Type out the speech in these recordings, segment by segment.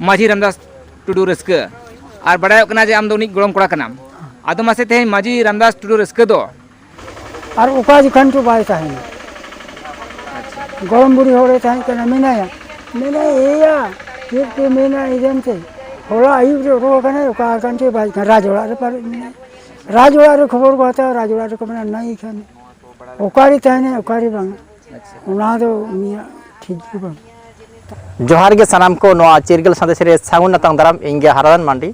ᱢᱟᱹᱡᱷᱤ ᱨᱟᱢᱫᱟᱥ ᱴᱩᱰᱩ ᱨᱟᱹᱥᱠᱟᱹ ᱟᱨ ᱵᱟᱰᱟᱭᱚᱜ ᱠᱟᱱᱟ ᱡᱮ ᱟᱢ ᱫᱚ ᱩᱱᱤ ᱜᱚᱲᱚᱢ ᱠᱚᱲᱟ ᱠᱟᱱᱟᱢ ᱟᱫᱚ ᱢᱟᱥᱮ ᱛᱮᱦᱮᱧ ᱢᱟᱹᱡᱷᱤ ᱨᱟᱢᱫᱟᱥ ᱴᱩᱰᱩ ᱨᱟᱹᱥᱠᱟᱹ ᱫᱚ ᱟᱨ ᱚᱠᱟ ᱡᱚᱠᱷᱟᱱ ᱪᱚ ᱵᱟᱭ ᱛᱟᱦᱮᱱᱟ ᱜᱚᱲᱚᱢ ᱵᱩᱲᱦᱤ ᱦᱚᱲᱮ ᱛᱟᱦᱮᱸ ᱠᱟᱱᱟ ᱢᱮᱱᱟᱭᱟ ᱢᱮᱱᱟᱭ ᱮᱭᱟ ᱪᱮᱫ ᱯᱮ ᱢᱮᱱᱟ ᱤᱫᱮᱱ ᱛᱮ ᱦᱚᱞᱟ ᱟᱹᱭᱩᱵ ᱨᱮ ᱚᱰᱚᱠ ᱟᱠᱟᱱᱟᱭ ᱚᱠᱟ ᱟᱠᱟᱱ ᱪᱚ ᱵᱟᱭ ᱠᱟᱱᱟ ᱨᱟᱡᱽ ᱚᱲᱟᱜ ᱨᱮ ᱯᱟᱨᱮᱡ ᱢᱮᱱᱟᱭᱟ ᱨᱟᱡᱽ ᱚᱲᱟᱜ ᱨᱮ ᱠᱷᱚᱵᱚᱨ ᱠᱚ ᱦᱟᱛᱟᱣᱟ ᱨᱟᱡᱽ ᱚᱲᱟᱜ ᱨᱮᱠᱚ ᱢᱮᱱᱟ ᱱᱟᱹᱭ ᱠᱷᱟᱱ ᱚᱠᱟᱨᱮ ᱛᱟᱦᱮᱱᱟᱭ ᱚᱠᱟᱨᱮ ᱵᱟᱝᱟ ᱚᱱᱟ ᱫᱚ ᱩᱱᱤᱭᱟᱜ ᱴᱷᱤᱠ ᱜᱮ ᱵᱟᱝ ᱡᱚᱦᱟᱨ ᱜᱮ ᱥᱟᱱᱟᱢ ᱠᱚ ᱱᱚᱣᱟ ᱪᱤᱨᱜᱟᱹᱞ ᱥᱟᱸᱫᱮᱥ ᱨᱮ ᱥᱟᱹᱜᱩᱱ ᱱᱟᱛᱟᱝ ᱫᱟᱨᱟᱢ ᱤᱧ ᱜᱮ ᱦᱟᱨᱟᱫᱟᱱ ᱢᱟᱱᱰᱤ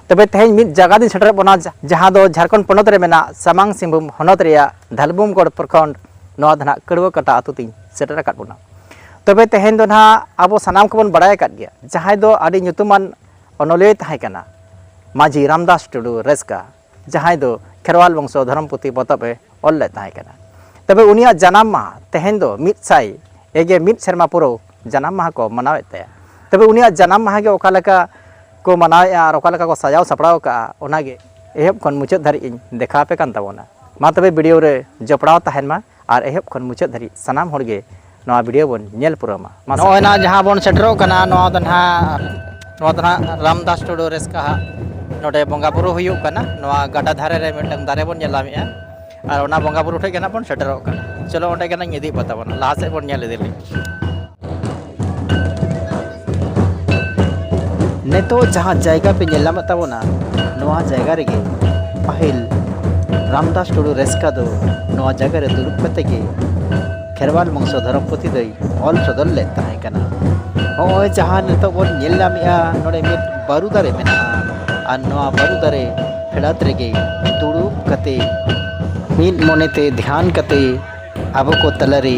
ᱛᱚᱵᱮ ᱛᱮᱦᱮᱧ ᱢᱤᱫ ᱡᱟᱭᱜᱟ ᱫᱤᱧ ᱥᱮᱴᱮᱨ ᱵᱚᱱᱟ ᱡᱟᱦᱟᱸ ᱫᱚ ᱡᱷᱟᱨᱠᱷᱚᱸᱰ ᱯᱚᱱᱚᱛ ᱨᱮ ᱢᱮᱱᱟᱜ ᱥᱟᱢᱟᱝ ᱥᱤᱝᱵᱷᱩᱢ ᱦᱚᱱᱚᱛ ᱨᱮᱭᱟᱜ ᱫᱷᱟᱞᱵᱩᱢᱜᱚᱲ ᱯᱨᱚᱠᱷᱚᱸᱰ ᱱᱚᱣᱟ ᱫᱚ ᱱᱟᱦᱟᱜ ᱠᱟᱹᱲᱣᱟᱹ ᱠᱟᱴᱟ ᱟᱹᱛᱩ ᱛᱤᱧ ᱥᱮᱴᱮᱨ ᱟᱠᱟᱫ ᱵᱚᱱᱟ ᱛᱚᱵᱮ ᱛᱮᱦᱮᱧ ᱫᱚ ᱱᱟᱦᱟᱜ ᱟᱵᱚ ᱥᱟᱱᱟᱢ ᱠᱚᱵᱚᱱ ᱵᱟᱲᱟᱭ ᱟᱠᱟᱫ ᱜᱮᱭᱟ ᱡᱟᱦᱟᱸᱭ ᱫᱚ ᱟᱹᱰᱤ ᱧᱩᱛᱩᱢᱟᱱ ᱚᱱᱚᱞᱤᱭᱟᱹᱭ ᱛᱟᱦᱮᱸ ᱠᱟᱱᱟ ᱢᱟᱹᱡᱷᱤ ᱨᱟᱢᱫᱟᱥ ᱴᱩᱰᱩ ᱨᱟᱹᱥᱠᱟ ᱡᱟᱦᱟᱸᱭ ᱫᱚ ᱠᱷᱮᱨᱣᱟᱞ ᱵᱚᱝᱥᱚ ᱫᱷᱚᱨᱚᱢ ᱯᱩᱛᱷᱤ ᱯᱚᱛᱚᱵ ᱮ ᱚᱞ ᱞᱮᱫ ᱛᱟᱦᱮᱸ ᱠᱟᱱᱟ ᱛᱚᱵᱮ ᱩᱱᱤᱭᱟᱜ ᱡᱟᱱᱟᱢ ᱢᱟᱦᱟ ᱛᱮᱦᱮᱧ ᱫᱚ ᱢᱤᱫ ᱥᱟᱭ ᱮᱜᱮ ᱢᱤᱫ ᱥᱮᱨᱢᱟ ᱯᱩᱨᱟᱹᱣ ᱡᱟᱱᱟᱢ ᱢᱟᱦᱟ ᱠᱚ ᱢᱟᱱᱟᱣᱮᱫ ᱛᱟᱭᱟ ᱛᱚᱵᱮ ᱩᱱᱤᱭᱟᱜ ᱡᱟᱱᱟᱢ ᱢᱟᱦᱟ ᱜᱮ ᱚᱠᱟ ᱞᱮᱠᱟ ᱠᱚ ᱢᱟᱱᱟᱣᱮᱫᱼᱟ ᱟᱨ ᱚᱠᱟ ᱞᱮᱠᱟ ᱠᱚ ᱥᱟᱡᱟᱣ ᱥᱟᱯᱲᱟᱣ ᱠᱟᱜᱼᱟ ᱚᱱᱟᱜᱮ ᱮᱦᱚᱵ ᱠᱷᱚᱱ ᱢᱩᱪᱟᱹᱫ ᱫᱷᱟᱹᱨᱤᱡ ᱤᱧ ᱫᱮᱠᱷᱟᱣ ᱟᱯᱮ ᱠᱟᱱ ᱛᱟᱵᱚᱱᱟ ᱢᱟ ᱛᱚᱵᱮ ᱵᱷᱤᱰᱤᱭᱳ ᱨᱮ ᱡᱚᱯᱲᱟᱣ ᱛᱟᱦᱮᱱ ᱢᱟ ᱟᱨ ᱮᱦᱚᱵ ᱠᱷᱚᱱ ᱢᱩᱪᱟᱹᱫ ᱫᱷᱟᱹᱨᱤᱡ ᱥᱟᱱᱟᱢ ᱦᱚᱲ ᱜᱮ ᱱᱚᱣᱟ ᱵᱷᱤᱰᱤᱭᱳ ᱵᱚᱱ ᱧᱮᱞ ᱯᱩᱨᱟᱹᱣ ᱢᱟ ᱢᱟ ᱱᱚᱜᱼᱚᱭ ᱱᱟ ᱡᱟᱦᱟᱸ ᱵᱚᱱ ᱥᱮᱴᱮᱨᱚᱜ ᱠᱟᱱᱟ ᱱᱚᱣᱟ ᱫᱚ ᱱᱟᱦᱟᱜ ᱱᱚᱣᱟ ᱫᱚ ᱱᱟᱦᱟᱜ ᱨᱟᱢᱫᱟᱥ ᱴᱩᱰᱩ ᱨᱮᱥᱠᱟ ᱦᱟᱜ ᱱᱚᱰᱮ ᱵᱚᱸᱜᱟ ᱵᱩᱨᱩ ᱦᱩᱭᱩᱜ ᱠᱟᱱᱟ ᱱᱚᱣᱟ ᱜᱟᱰᱟ ᱫᱷᱟᱨᱮ ᱨᱮ ᱢᱤᱫᱴᱟᱝ ᱫᱟᱨᱮ ᱵᱚᱱ ᱧᱮᱞᱟᱢᱮᱜᱼᱟ ᱟᱨ ᱚᱱᱟ ᱵᱚᱸᱜᱟ ᱵᱩᱨᱩ ᱴᱷᱮᱡ ᱜᱮ ᱱᱟᱦᱟᱜ ᱵᱚᱱ ᱥᱮᱴᱮᱨᱚᱜ ᱠᱟᱱᱟ ᱪᱚᱞᱚ ᱚᱸᱰᱮ ᱜᱮ ᱱᱟᱦᱟᱜ ᱤᱧ ᱤᱫᱤᱭᱮᱫ ᱯᱮ ᱛᱟᱵᱚᱱᱟ ᱞᱟᱦᱟ ᱥᱮᱫ ᱵᱚᱱ ᱧᱮᱞ ᱤᱫᱤ ᱞᱮᱜᱮ ᱱᱤᱛᱚᱜ ᱡᱟᱦᱟᱸ ᱡᱟᱭᱜᱟ ᱯᱮ ᱧᱮᱞ ᱧᱟᱢᱮᱫ ᱛᱟᱵᱚᱱᱟ ᱱᱚᱣᱟ ᱡᱟᱭᱜᱟ ᱨᱮᱜᱮ ᱯᱟᱹᱦᱤᱞ ᱨᱟᱢᱫᱟᱥ ᱴᱩᱰᱩ ᱨᱮᱥᱠᱟ ᱫᱚ ᱱᱚᱣᱟ ᱡᱟᱭᱜᱟ ᱨᱮ ᱫᱩᱲᱩᱵ ᱠᱟᱛᱮ ᱜᱮ ᱠᱷᱮᱨᱣᱟᱞ ᱵᱚᱝᱥᱚ ᱫᱷᱚᱨᱚᱢ ᱯᱩᱛᱷᱤ ᱫᱚᱭ ᱚᱞ ᱥᱚᱫᱚᱨ ᱞᱮᱫ ᱛᱟᱦᱮᱸ ᱠᱟᱱᱟ ᱱᱚᱜᱼᱚᱭ ᱡᱟᱦᱟᱸ ᱱᱤᱛᱚᱜ ᱵᱚᱱ ᱧᱮᱞ ᱧᱟᱢᱮᱜᱼᱟ ᱱᱚᱰᱮ ᱢᱤᱫ ᱵᱟᱹᱨᱩ ᱫᱟᱨᱮ ᱢᱮᱱᱟᱜᱼᱟ ᱟᱨ ᱱᱚᱣᱟ ᱵᱟᱹᱨᱩ ᱫᱟᱨᱮ ᱯᱷᱮᱰᱟᱛ ᱨᱮᱜᱮ ᱫᱩᱲᱩᱵ ᱠᱟᱛᱮ ᱢᱤᱫ ᱢᱚᱱᱮᱛᱮ ᱫᱷᱮᱭᱟᱱ ᱠᱟᱛᱮ ᱟᱵᱚ ᱠᱚ ᱛᱟᱞᱟᱨᱮ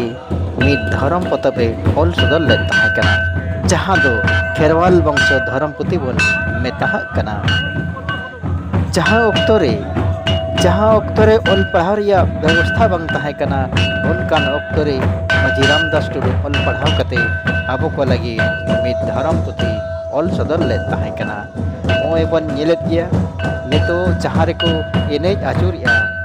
ᱢᱤᱫ ᱫᱷᱚᱨᱚᱢ ᱯᱚᱛᱚᱵ ᱮ ᱚᱞ ᱥᱚᱫᱚᱨ ᱞᱮᱫ ᱛᱟᱦᱮᱸ ᱠᱟᱱᱟ ᱡᱟᱦᱟᱸ ᱫᱚ ᱠᱷᱮᱨᱣᱟᱞ ᱵᱚᱝᱥᱚ ᱫᱷᱚᱨᱚᱢ ᱯᱩᱛᱷᱤ ᱵᱚᱱ ᱢᱮᱛᱟᱦᱟᱜ ᱠᱟᱱᱟ ᱡᱟᱦᱟᱸ ᱚᱠᱛᱚ ᱨᱮ ᱡᱟᱦᱟᱸ ᱚᱠᱛᱚ ᱨᱮ ᱚᱞ ᱯᱟᱲᱦᱟᱣ ᱨᱮᱭᱟᱜ ᱵᱮᱵᱚᱥᱛᱷᱟ ᱵᱟᱝ ᱛᱟᱦᱮᱸ ᱠᱟᱱᱟ ᱚᱱᱠᱟᱱ ᱚᱠᱛᱚ ᱨᱮ ᱢᱟᱹᱡᱷᱤ ᱨᱟᱢᱫᱟᱥ ᱴᱩᱰᱩ ᱚᱞ ᱯᱟᱲᱦᱟᱣ ᱠᱟᱛᱮ ᱟᱵᱚ ᱠᱚ ᱞᱟᱹᱜᱤᱫ ᱢᱤᱫ ᱫᱷᱚᱨᱚᱢ ᱯᱩᱛᱷᱤ ᱚᱞ ᱥᱚᱫᱚᱨ ᱞᱮᱫ ᱛᱟᱦᱮᱸ ᱠᱟᱱᱟ ᱱᱚᱜᱼᱚᱭ ᱵᱚᱱ ᱧᱮᱞᱮᱫ ᱜᱮᱭᱟ ᱱᱤᱛᱚᱜ ᱡᱟᱦᱟᱸ ᱨᱮᱠᱚ ᱮᱱᱮᱡ ᱟᱹᱪᱩᱨᱮᱜᱼᱟ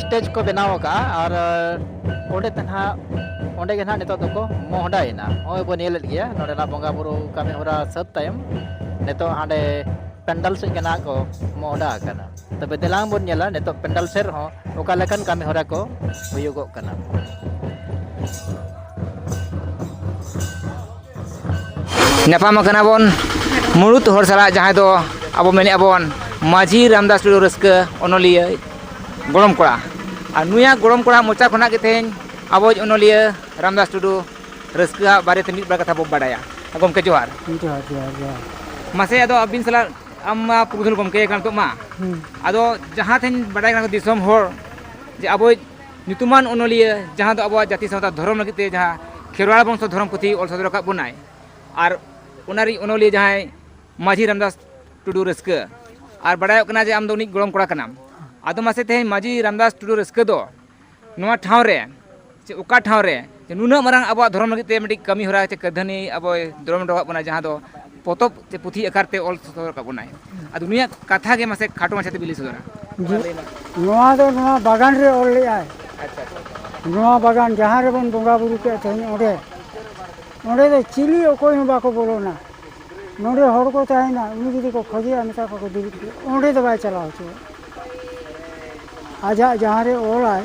ᱥᱴᱮᱡᱽ ᱠᱚ ᱵᱮᱱᱟᱣ ᱟᱠᱟᱫᱼᱟ ᱟᱨ ᱚᱸᱰᱮ ᱛᱮ ᱱᱟᱦᱟᱜ ᱚᱸᱰᱮ ᱜᱮ ᱱᱟᱦᱟᱜ ᱱᱤᱛᱚᱜ ᱫᱚᱠᱚ ᱢᱚᱦᱰᱟᱭᱮᱱᱟ ᱱᱚᱜᱼᱚᱭ ᱵᱚᱱ ᱧᱮᱞᱮᱫ ᱜᱮᱭᱟ ᱱᱚᱰᱮᱱᱟᱜ ᱵᱚᱸᱜᱟ ᱵᱩᱨᱩ ᱠᱟᱹᱢᱤ ᱦᱚᱨᱟ ᱥᱟᱹᱛ ᱛᱟᱭᱚᱢ ᱱᱤᱛᱚᱜ ᱦᱟᱸᱰᱮ ᱯᱮᱱᱰᱟᱞ ᱥᱮᱫ ᱜᱮ ᱱᱟᱦᱟᱜ ᱠᱚ ᱢᱚᱦᱰᱟ ᱟᱠᱟᱱᱟ ᱛᱚᱵᱮ ᱫᱮᱞᱟᱝ ᱵᱚᱱ ᱧᱮᱞᱟ ᱱᱤᱛᱚᱜ ᱯᱮᱱᱰᱟᱞ ᱥᱮᱫ ᱨᱮᱦᱚᱸ ᱚᱠᱟ ᱞᱮᱠᱟᱱ ᱠᱟᱹᱢᱤ ᱦᱚᱨᱟ ᱠᱚ ᱦᱩᱭᱩᱜᱚᱜ ᱠᱟᱱᱟ ᱧᱟᱯᱟᱢ ᱟᱠᱟᱱᱟ ᱵᱚᱱ ᱢᱩᱬᱩᱛ ᱦᱚᱲ ᱥᱟᱞᱟᱜ ᱡᱟᱦᱟᱸᱭ ᱫᱚ ᱟᱵᱚ ᱢᱮᱱᱮᱫᱼᱟ ᱵᱚᱱ ᱢᱟᱹᱡᱷᱤ ᱨᱟᱢᱫᱟᱥ ᱴᱩᱰᱩ ᱨᱟᱹᱥᱠᱟᱹ ᱚᱱᱚᱞᱤᱭᱟᱹ ᱜᱚᱲᱚᱢ ᱠᱚᱲᱟ ᱟᱨ ᱱᱩᱭᱟᱜ ᱜᱚᱲᱚᱢ ᱠᱚᱲᱟ ᱢᱚᱪᱟ ᱠᱷᱚᱱᱟᱜ ᱜᱮ ᱛᱮᱦᱮᱧ ᱟᱵᱚᱭᱤᱡ ᱚᱱᱚᱞᱤᱭᱟᱹ ᱨᱟᱢᱫᱟᱥ ᱴᱩᱰᱩ ᱨᱟᱹᱥᱠᱟᱹᱣᱟᱜ ᱵᱟᱨᱮᱛᱮ ᱢᱤᱫ ᱵᱟᱨ ᱠᱟᱛᱷᱟ ᱵᱚ ᱵᱟᱰᱟᱭᱟ ᱜᱚᱢᱠᱮ ᱡᱚᱦᱟᱨ ᱡᱚᱦᱟᱨ ᱡᱚᱦᱟᱨ ᱡᱚᱦᱟᱨ ᱢᱟᱥᱮ ᱟᱫᱚ ᱟᱹᱵᱤᱱ ᱥᱟᱞᱟᱜ ᱟᱢ ᱢᱟ ᱯᱩᱨᱩᱫᱷᱩᱞ ᱜᱚᱢᱠᱮ ᱠᱟᱱ ᱱᱤᱛᱚᱜ ᱢᱟ ᱟᱫᱚ ᱡᱟᱦᱟᱸ ᱛᱮᱦᱮᱧ ᱵᱟᱰᱟᱭ ᱠᱟᱱᱟ ᱫᱤᱥᱚᱢ ᱦᱚᱲ ᱡᱮ ᱟᱵᱚᱭᱤᱡ ᱧᱩᱛᱩᱢᱟᱱ ᱚᱱᱚᱞᱤᱭᱟᱹ ᱡᱟᱦᱟᱸ ᱫᱚ ᱟᱵᱚᱣᱟᱜ ᱡᱟᱹᱛᱤ ᱥᱟᱶᱛᱟ ᱫᱷᱚᱨᱚᱢ ᱞᱟᱹᱜᱤᱫ ᱛᱮ ᱡᱟᱦᱟᱸ ᱠᱷᱮᱨᱣᱟᱲ ᱵᱚᱝᱥᱚ ᱫᱷᱚᱨᱚᱢ ᱯᱩᱛᱷᱤ ᱚᱞ ᱥᱚᱫᱚᱨ ᱟᱠᱟᱫ ᱵᱚᱱᱟᱭ ᱟᱨ ᱚᱱᱟ ᱨᱤᱡ ᱚᱱᱚᱞᱤᱭᱟᱹ ᱡᱟᱦᱟᱸᱭ ᱢᱟᱹᱡᱷᱤ ᱨᱟᱢᱫᱟᱥ ᱴᱩᱰᱩ ᱨᱟᱹᱥᱠᱟᱹ ᱟᱨ ᱵᱟᱰᱟᱭᱚᱜ ᱠᱟᱱᱟ ᱡᱮ ᱟᱢ ᱫᱚ ᱩᱱᱤ ᱜᱚᱲᱚᱢ ᱠᱚᱲᱟ ᱠᱟᱱᱟᱢ ᱟᱫᱚ ᱢᱟᱥᱮ ᱛᱮᱦᱮᱧ ᱢᱟᱹᱡᱷᱤ ᱨᱟᱢᱫᱟᱥ ᱴᱩᱰᱩ ᱨᱟᱹᱥᱠᱟᱹ ᱫᱚ ᱱᱚᱣᱟ ᱴᱷᱟᱶ ᱨᱮ ᱥᱮ ᱚᱠᱟ ᱴᱷᱟᱶ ᱨᱮ ᱡᱮ ᱱᱩᱱᱟᱹᱜ ᱢᱟᱨᱟᱝ ᱟᱵᱚᱣᱟᱜ ᱫᱷᱚᱨᱚᱢ ᱞᱟᱹᱜᱤᱫ ᱛᱮ ᱢᱤᱫᱴᱤᱡ ᱠᱟᱹᱢᱤ ᱦᱚᱨᱟ ᱪᱮ ᱠᱟᱹᱫᱷᱟᱹᱱᱤ ᱟᱵᱚᱭ ᱫᱨᱚᱢ ᱦᱚᱴᱚ ᱟᱠᱟᱫ ᱵᱚᱱᱟ ᱡᱟᱦᱟᱸ ᱫᱚ ᱯᱚᱛᱚᱵ ᱪᱮ ᱯᱩᱛᱷᱤ ᱟᱠᱟᱨ ᱛᱮ ᱚᱞ ᱥᱚᱫᱚᱨ ᱟᱠᱟᱫ ᱵᱚᱱᱟᱭ ᱟᱫᱚ ᱱᱩᱭᱟᱜ ᱠᱟᱛᱷᱟ ᱜᱮ ᱢᱟᱥᱮ ᱠᱷᱟᱴᱚ ᱢᱟᱪᱷᱟ ᱛᱮᱵᱤᱱ ᱞᱟᱹᱭ ᱥᱚᱫᱚᱨᱟ ᱱᱚᱣᱟ ᱫᱚ ᱱᱚᱣᱟ ᱵᱟᱜᱟᱱ ᱨᱮ ᱚᱞ ᱞᱮᱫᱟᱭ ᱱᱚᱣᱟ ᱵᱟᱜᱟᱱ ᱡᱟᱦᱟᱸ ᱨᱮᱵᱚᱱ ᱵᱚᱸᱜᱟ ᱵᱩᱨᱩ ᱠᱮᱫ ᱛᱮᱦᱮᱧ ᱚᱸᱰᱮ ᱚᱸᱰᱮ ᱫᱚ ᱪᱤᱞᱤ ᱚᱠᱚᱭ ᱦᱚᱸ ᱵᱟᱠᱚ ᱵᱚᱞᱚᱱᱟ ᱱᱚᱰᱮ ᱦᱚᱲ ᱠᱚ ᱛᱟᱦᱮᱱᱟ ᱩᱱᱤ ᱡᱩᱫᱤ ᱠᱚ ᱠᱷᱚᱡᱮᱭᱟ ᱢᱮᱛᱟ ᱠᱚᱣᱟ ᱠᱚ ᱫᱩᱲᱩᱵ ᱯᱮ ᱚᱸᱰᱮ ᱫᱚ ᱵᱟᱭ ᱪᱟᱞᱟᱣ ᱦᱚᱪᱚᱣᱟᱜᱼᱟ ᱟᱡᱟᱜ ᱡᱟᱦᱟᱸ ᱨᱮ ᱚᱞᱟᱭ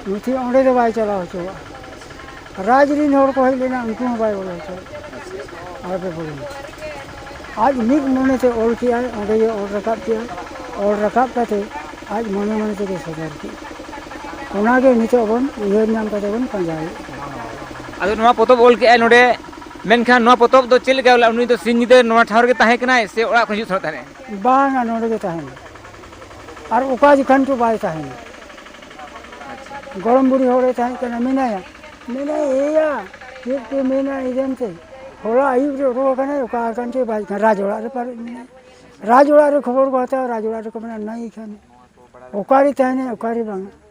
ᱱᱩᱛᱷᱤ ᱚᱸᱰᱮ ᱫᱚ ᱵᱟᱭ ᱪᱟᱞᱟᱣ ᱦᱚᱪᱚᱣᱟᱜᱼᱟ ᱨᱟᱡᱽ ᱨᱮᱱ ᱦᱚᱲ ᱠᱚ ᱦᱮᱡ ᱞᱮᱱᱟ ᱩᱱᱠᱩ ᱦᱚᱸ ᱵᱟᱭ ᱵᱚᱞᱚ ᱦᱚᱪᱚᱣᱟᱜᱼᱟ ᱟᱞᱚᱯᱮ ᱵᱚᱞᱚᱱᱟ ᱟᱡ ᱢᱤᱫ ᱢᱚᱱᱮᱛᱮ ᱚᱞ ᱠᱮᱜᱼᱟᱭ ᱚᱸᱰᱮ ᱜᱮ ᱚᱞ ᱨᱟᱠᱟᱵ ᱠᱮᱜᱼᱟᱭ ᱚᱞ ᱨᱟᱠᱟᱵ ᱠᱟᱛᱮ ᱟᱡ ᱢᱚᱱᱮ ᱢᱚᱱᱮ ᱛᱮᱜᱮ ᱥᱚᱫᱚᱨ ᱠᱮᱜᱼᱟ ᱚᱱᱟᱜᱮ ᱱᱤᱛᱚᱜ ᱵᱚᱱ ᱩᱭᱦᱟᱹᱨ ᱧᱟᱢ ᱠᱟᱛᱮ ᱵᱚᱱ ᱯᱟᱸᱡᱟᱭᱮᱫ ᱠᱟᱱᱟ ᱟᱫᱚ ᱱᱚᱣᱟ ᱯᱚᱛᱚᱵ ᱚᱞ ᱠᱮᱜᱼᱟᱭ ᱱᱚᱰᱮ ᱢᱮᱱᱠᱷᱟᱱ ᱱᱚᱣᱟ ᱯᱚᱛᱚᱵ ᱫᱚ ᱪᱮᱫ ᱞᱮᱠᱟ ᱵᱚᱞᱮ ᱩᱱᱤ ᱫᱚ ᱥᱤᱧ ᱧᱤᱫᱟᱹ ᱱᱚᱣᱟ ᱴᱷᱟᱶ ᱨᱮᱜᱮ ᱛᱟᱦᱮᱸ ᱠᱟᱱᱟᱭ ᱥᱮ ᱚᱲᱟᱜ ᱠᱷᱚᱱ ᱦᱤᱡᱩᱜ ᱥᱮᱱᱚᱜ ᱛᱟᱦᱮᱸ ᱵᱟᱝᱟ ᱱᱚᱰᱮ ᱜᱮ ᱛᱟᱦᱮᱱᱟ ᱟᱨ ᱚᱠᱟ ᱡᱚᱠᱷᱟᱱ ᱪᱚ ᱵᱟᱭ ᱛᱟᱦᱮᱱᱟ ᱜᱚᱲᱚᱢ ᱵᱩᱲᱦᱤ ᱦᱚᱲᱮ ᱛᱟᱦᱮᱸ ᱠᱟᱱᱟ ᱢᱮᱱᱟᱭᱟ ᱢᱮᱱᱟᱭ ᱮᱭᱟ ᱪᱮᱫ ᱯᱮ ᱢᱮᱱᱟ ᱤᱫᱮᱱ ᱛᱮ ᱦᱚᱞᱟ ᱟᱹᱭᱩᱵ ᱨᱮ ᱚᱰᱚᱠ ᱟᱠᱟᱱᱟᱭ ᱚᱠᱟ ᱟᱠᱟᱱ ᱪᱚ ᱵᱟᱭ ᱛᱟᱦᱮᱱᱟ ᱨᱟᱡᱽ ᱚᱲᱟᱜ ᱨᱮ ᱯᱟᱨᱮᱡ ᱢᱮᱱᱟᱭᱟ ᱨᱟᱡᱽ ᱚᱲᱟᱜ ᱨᱮ ᱠᱷᱚᱵᱚᱨ ᱠᱚ ᱦᱟᱛᱟᱣᱟ ᱨᱟᱡᱽ ᱚᱲᱟᱜ ᱨᱮᱠᱚ ᱢᱮᱱᱟ ᱱᱟᱹᱭ ᱠᱷᱟᱱ ᱚᱠᱟᱨᱮ ᱛᱟᱦᱮᱱᱟᱭ ᱚᱠᱟᱨᱮ ᱵᱟᱝᱟ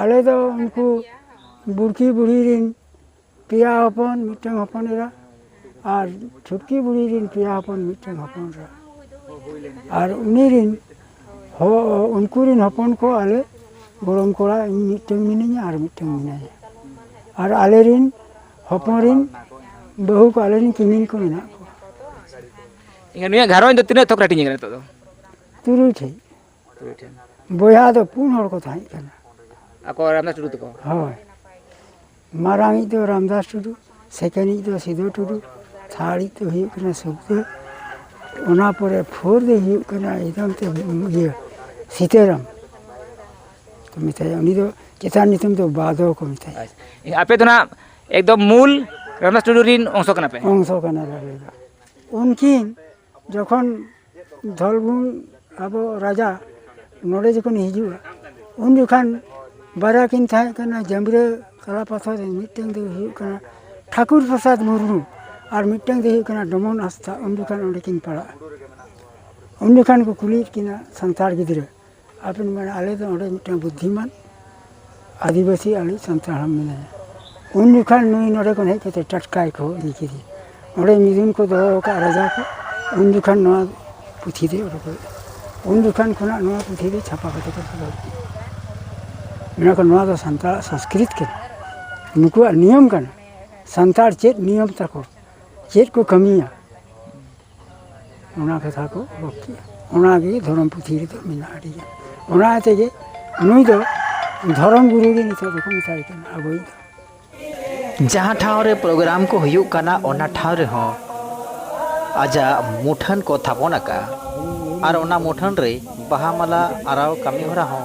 ᱟᱞᱮ ᱫᱚ ᱩᱱᱠᱩ ᱵᱩᱲᱠᱤ ᱵᱩᱲᱦᱤ ᱨᱤᱱ ᱯᱮᱭᱟ ᱦᱚᱯᱚᱱ ᱢᱤᱫᱴᱟᱝ ᱦᱚᱯᱚᱱ ᱮᱨᱟ ᱟᱨ ᱪᱷᱩᱴᱠᱤ ᱵᱩᱲᱦᱤ ᱨᱤᱱ ᱯᱮᱭᱟ ᱦᱚᱯᱚᱱ ᱢᱤᱫᱴᱟᱝ ᱦᱚᱯᱚᱱ ᱮᱨᱟ ᱟᱨ ᱩᱱᱤ ᱨᱤᱱ ᱩᱱᱠᱩ ᱨᱤᱱ ᱦᱚᱯᱚᱱ ᱠᱚ ᱟᱞᱮ ᱜᱚᱲᱚᱢ ᱠᱚᱲᱟ ᱤᱧ ᱢᱤᱫᱴᱟᱝ ᱢᱤᱱᱟᱹᱧᱟ ᱟᱨ ᱢᱤᱫᱴᱟᱝ ᱢᱮᱱᱟᱭᱟ ᱟᱨ ᱟᱞᱮ ᱨᱤᱱ ᱦᱚᱯᱚᱱ ᱨᱤᱱ ᱵᱟᱹᱦᱩ ᱠᱚ ᱟᱞᱮ ᱨᱤᱱ ᱠᱤᱢᱤᱱ ᱠᱚ ᱢᱮᱱᱟᱜ ᱠᱚᱣᱟ ᱮᱱᱠᱷᱟᱱ ᱱᱩᱭᱟᱜ ᱜᱷᱟᱨᱚᱸᱡᱽ ᱫᱚ ᱛᱤᱱᱟᱹᱜ ᱛᱷᱚᱠ ᱨᱮ ᱦᱟᱹᱴᱤᱧ ᱟᱠᱟᱱᱟ ᱱᱤᱛᱚᱜ ᱫᱚ ᱛᱩᱨᱩᱭ ᱴᱷᱮᱡ ᱵᱚᱭᱦᱟ ᱫᱚ ᱯᱩᱱ ᱦᱚᱲ ᱠᱚ ᱛᱟᱦᱮᱸ ᱠᱟᱱᱟ ᱟᱠᱚ ᱨᱟᱢᱫᱟᱥ ᱴᱩᱰᱩ ᱛᱟᱠᱚ ᱦᱳᱭ ᱢᱟᱨᱟᱝ ᱤᱡ ᱫᱚ ᱨᱟᱢᱫᱟᱥ ᱴᱩᱰᱩ ᱥᱮᱠᱮᱱᱰ ᱤᱡ ᱫᱚ ᱥᱤᱫᱩ ᱴᱩᱰᱩ ᱛᱷᱟᱨᱰ ᱤᱡ ᱫᱚ ᱦᱩᱭᱩᱜ ᱠᱟᱱᱟ ᱥᱩᱠᱫᱟᱹ ᱚᱱᱟ ᱯᱚᱨᱮ ᱯᱷᱳᱨ ᱫᱚᱭ ᱦᱩᱭᱩᱜ ᱠᱟᱱᱟ ᱮᱠᱫᱚᱢ ᱛᱮ ᱤᱭᱟᱹ ᱥᱤᱛᱟᱹᱨᱟᱢ ᱠᱚ ᱢᱮᱛᱟᱭᱟ ᱩᱱᱤ ᱫᱚ ᱪᱮᱛᱟᱱ ᱧᱩᱛᱩᱢ ᱫᱚ ᱵᱟᱫᱚ ᱠᱚ ᱢᱮᱛᱟᱭᱟ ᱟᱯᱮ ᱫᱚ ᱱᱟᱜ ᱮᱠᱫᱚᱢ ᱢᱩᱞ ᱨᱟᱢᱫᱟᱥ ᱴᱩᱰᱩ ᱨᱤᱱ ᱚᱝᱥᱚ ᱠᱟᱱᱟ ᱯᱮ ᱚᱝᱥᱚ ᱠᱟᱱᱟᱞᱮ ᱟᱞᱮ ᱫᱚ ᱩᱱᱠᱤᱱ ᱡᱚᱠᱷᱚᱱ ᱫᱷᱚᱞᱵᱷᱩᱢ ᱟᱵᱚ ᱨᱟᱡᱟ ᱱᱚᱰᱮ ᱡᱚᱠᱷᱚᱱᱮ ᱦᱤᱡᱩᱜᱼᱟ ᱩᱱ ᱡᱚᱠᱷᱟᱱ ᱵᱟᱨᱭᱟ ᱠᱤᱱ ᱛᱟᱦᱮᱸ ᱠᱟᱱᱟ ᱡᱟᱢᱲᱳ ᱠᱟᱞᱟ ᱯᱟᱛᱷᱚᱨ ᱨᱮᱱ ᱢᱤᱫᱴᱟᱝ ᱫᱚᱭ ᱦᱩᱭᱩᱜ ᱠᱟᱱᱟ ᱴᱷᱟᱹᱠᱩᱨ ᱯᱨᱚᱥᱟᱫᱽ ᱢᱩᱨᱢᱩ ᱟᱨ ᱢᱤᱫᱴᱟᱝ ᱫᱚᱭ ᱦᱩᱭᱩᱜ ᱠᱟᱱᱟ ᱰᱚᱢᱚᱱ ᱦᱟᱸᱥᱫᱟ ᱩᱱ ᱡᱚᱠᱷᱟᱱ ᱚᱸᱰᱮ ᱠᱤᱱ ᱯᱟᱲᱟᱜᱼᱟ ᱩᱱ ᱡᱚᱠᱷᱟᱱ ᱠᱚ ᱠᱩᱞᱤᱭᱮᱫ ᱠᱤᱱᱟ ᱥᱟᱱᱛᱟᱲ ᱜᱤᱫᱽᱨᱟᱹ ᱟᱫᱚᱧ ᱢᱮᱱᱟ ᱟᱞᱮ ᱫᱚ ᱚᱸᱰᱮ ᱢᱤᱫᱴᱟᱱ ᱵᱩᱫᱽᱫᱷᱤᱢᱟᱱ ᱟᱹᱫᱤᱵᱟᱹᱥᱤ ᱟᱞᱮᱭᱤᱡ ᱥᱟᱱᱛᱟᱲ ᱦᱚᱲ ᱢᱮᱱᱟᱭᱟ ᱩᱱ ᱡᱚᱠᱷᱟᱱ ᱱᱩᱭ ᱱᱚᱰᱮ ᱠᱷᱚᱱ ᱦᱮᱡ ᱠᱟᱛᱮᱫ ᱴᱟᱴᱠᱟᱭ ᱠᱚ ᱤᱫᱤ ᱠᱮᱫᱮᱭᱟ ᱚᱸᱰᱮ ᱢᱤᱫᱩᱱ ᱠᱚ ᱫᱚᱦᱚ ᱟᱠᱟᱫᱼᱟ ᱨᱟᱡᱟ ᱠᱚ ᱩᱱ ᱡᱚᱠᱷᱟᱱ ᱱᱚᱣᱟ ᱯᱩᱛᱷᱤ ᱫᱚᱭ ᱩᱰᱩᱠ ᱞᱮᱫᱼᱟ ᱩᱱ ᱡᱚᱠᱷᱟᱱ ᱠᱷᱚᱱᱟᱜ ᱱᱚᱣᱟ ᱯᱩᱛᱷᱤ ᱫᱚ ᱪᱷᱟᱯᱟ ᱠᱟᱛᱮᱫ ᱠᱚ ᱫᱚᱦᱚ ᱠᱮᱫᱼᱟ ᱢᱮᱱᱟ ᱠᱚ ᱱᱚᱣᱟ ᱫᱚ ᱥᱟᱱᱛᱟᱲᱟᱜ ᱥᱚᱥᱠᱨᱤᱛ ᱠᱟᱱᱟ ᱱᱩᱠᱩᱣᱟᱜ ᱱᱤᱭᱚᱢ ᱠᱟᱱᱟ ᱥᱟᱱᱛᱟᱲ ᱪᱮᱫ ᱱᱤᱭᱚᱢ ᱛᱟᱠᱚ ᱪᱮᱫ ᱠᱚ ᱠᱟᱹᱢᱤᱭᱟ ᱚᱱᱟ ᱠᱟᱛᱷᱟ ᱠᱚ ᱚᱞ ᱠᱮᱜᱼᱟ ᱚᱱᱟᱜᱮ ᱫᱷᱚᱨᱚᱢ ᱯᱩᱛᱷᱤ ᱨᱮᱫᱚ ᱢᱮᱱᱟᱜᱼᱟ ᱟᱹᱰᱤ ᱜᱟᱱ ᱚᱱᱟ ᱛᱮᱜᱮ ᱱᱩᱭ ᱫᱚ ᱫᱷᱚᱨᱚᱢ ᱜᱩᱨᱩ ᱜᱮ ᱱᱤᱛᱚᱜ ᱫᱚᱠᱚ ᱢᱮᱛᱟᱭ ᱠᱟᱱᱟ ᱟᱵᱚᱭᱤᱡ ᱫᱚ ᱡᱟᱦᱟᱸ ᱴᱷᱟᱶ ᱨᱮ ᱯᱨᱳᱜᱨᱟᱢ ᱠᱚ ᱦᱩᱭᱩᱜ ᱠᱟᱱᱟ ᱚᱱᱟ ᱴᱷᱟᱶ ᱨᱮᱦᱚᱸ ᱟᱡᱟᱜ ᱢᱩᱴᱷᱟᱹᱱ ᱠᱚ ᱛᱷᱟᱯᱚᱱ ᱟᱠᱟᱜᱼᱟ ᱟᱨ ᱚᱱᱟ ᱢᱩᱴᱷᱟᱹᱱ ᱨᱮ ᱵᱟᱦᱟ ᱢᱟᱞᱟ ᱟᱨᱟᱣ ᱠᱟᱹᱢᱤ ᱦᱚᱨᱟ ᱦᱚᱸ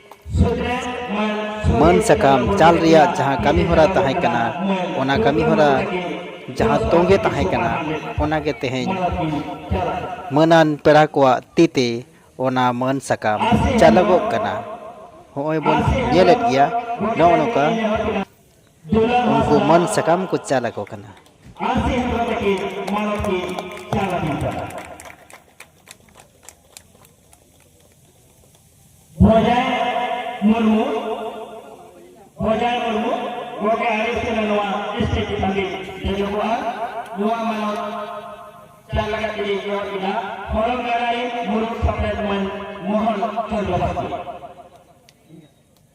ᱢᱟᱹᱱ ᱥᱟᱠᱟᱢ ᱪᱟᱞ ᱨᱮᱭᱟᱜ ᱡᱟᱦᱟᱸ ᱠᱟᱹᱢᱤ ᱦᱚᱨᱟ ᱛᱟᱦᱮᱸ ᱠᱟᱱᱟ ᱚᱱᱟ ᱠᱟᱹᱢᱤ ᱦᱚᱨᱟ ᱡᱟᱦᱟᱸ ᱛᱚᱸᱜᱮ ᱛᱟᱦᱮᱸ ᱠᱟᱱᱟ ᱚᱱᱟ ᱜᱮ ᱛᱮᱦᱮᱧ ᱢᱟᱹᱱᱟᱱ ᱯᱮᱲᱟ ᱠᱚᱣᱟᱜ ᱛᱤ ᱛᱮ ᱚᱱᱟ ᱢᱟᱹᱱ ᱥᱟᱠᱟᱢ ᱪᱟᱞᱚᱜᱚᱜ ᱠᱟᱱᱟ ᱦᱚᱸᱜᱼᱚᱭ ᱵᱚᱱ ᱧᱮᱞᱮᱫ ᱜᱮᱭᱟ ᱱᱚᱜᱼᱚ ᱱᱚᱝᱠᱟ ᱩᱱᱠᱩ ᱢᱟᱹᱱ ᱥᱟᱠᱟᱢ ᱠᱚ ᱪᱟᱞ ᱟᱠᱚ ᱠᱟᱱᱟ ᱵᱚᱡᱟᱭ ᱢᱩᱨᱢᱩ ᱵᱚᱡᱟᱭ ᱢᱩᱨᱢᱩ ᱜᱚᱢᱠᱮ ᱟᱹᱰᱤ ᱥᱮᱱᱟ ᱱᱚᱣᱟ ᱥᱴᱮᱡᱽ ᱪᱮᱛᱟᱱ ᱨᱮ ᱫᱮᱡᱚᱜᱚᱜᱼᱟ ᱱᱚᱣᱟ ᱢᱟᱱᱚᱛ ᱪᱟᱞ ᱞᱟᱜᱟᱫ ᱛᱮᱜᱮ ᱮᱦᱚᱵ ᱮᱱᱟ ᱦᱚᱨᱚᱱ ᱜᱟᱰᱟ ᱨᱮ ᱢᱩᱨᱢᱩ ᱥᱟᱯᱲᱮᱫ ᱢᱟᱹᱱ ᱢᱚᱦᱚᱱ ᱪᱚᱱᱫᱨᱚ ᱵᱟᱥᱠᱮ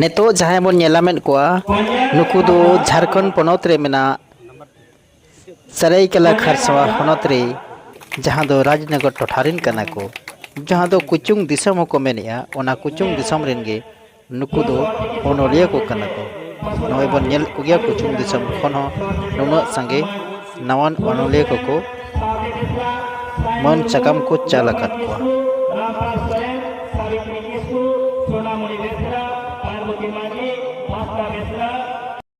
ᱱᱤᱛᱚᱜ ᱡᱟᱦᱟᱸᱭ ᱵᱚᱱ ᱧᱮᱞᱟ ᱢᱮᱫ ᱠᱚᱣᱟ ᱱᱩᱠᱩ ᱫᱚ ᱡᱷᱟᱲᱠᱷᱚᱸᱰ ᱯᱚᱱᱚᱛ ᱨᱮ ᱢᱮᱱᱟᱜ ᱥᱟᱹᱨᱟᱹᱭᱠᱮᱞᱟ ᱠᱷᱟᱨᱥᱟᱣᱟ ᱦᱚᱱᱚᱛ ᱨᱮ ᱡᱟᱦᱟᱸ ᱫᱚ ᱨᱟᱡᱽᱱᱚᱜᱚᱨ ᱴᱚᱴᱷᱟ ᱨᱮᱱ ᱠᱟᱱᱟ ᱠᱚ ᱡᱟᱦᱟᱸ ᱫᱚ ᱠᱩᱪᱩᱝ ᱫᱤᱥᱚᱢ ᱦᱚᱸᱠᱚ ᱢᱮᱱᱮᱜᱼᱟ ᱚᱱᱟ ᱠᱩᱪᱩᱝ ᱫᱤᱥᱚᱢ ᱨᱮᱱ ᱜᱮ ᱱᱩᱠᱩ ᱫᱚ ᱚᱱᱚᱞᱤᱭᱟᱹ ᱠᱚ ᱠᱟᱱᱟ ᱠᱚ ᱱᱚᱜᱼᱚᱭ ᱵᱚᱱ ᱧᱮᱞ ᱠᱚ ᱜᱮᱭᱟ ᱠᱩᱪᱩᱝ ᱫᱤᱥᱚᱢ ᱠᱷᱚᱱ ᱦᱚᱸ ᱱᱩᱱᱟᱹᱜ ᱥᱟᱸᱜᱮ ᱱᱟᱣᱟᱱ ᱚᱱᱚᱞᱤᱭᱟᱹ ᱠᱚᱠᱚ ᱢᱟᱹᱱ ᱥᱟᱠᱟᱢ ᱠᱚ ᱪᱟᱞ ᱟᱠᱟᱫ ᱠᱚᱣᱟ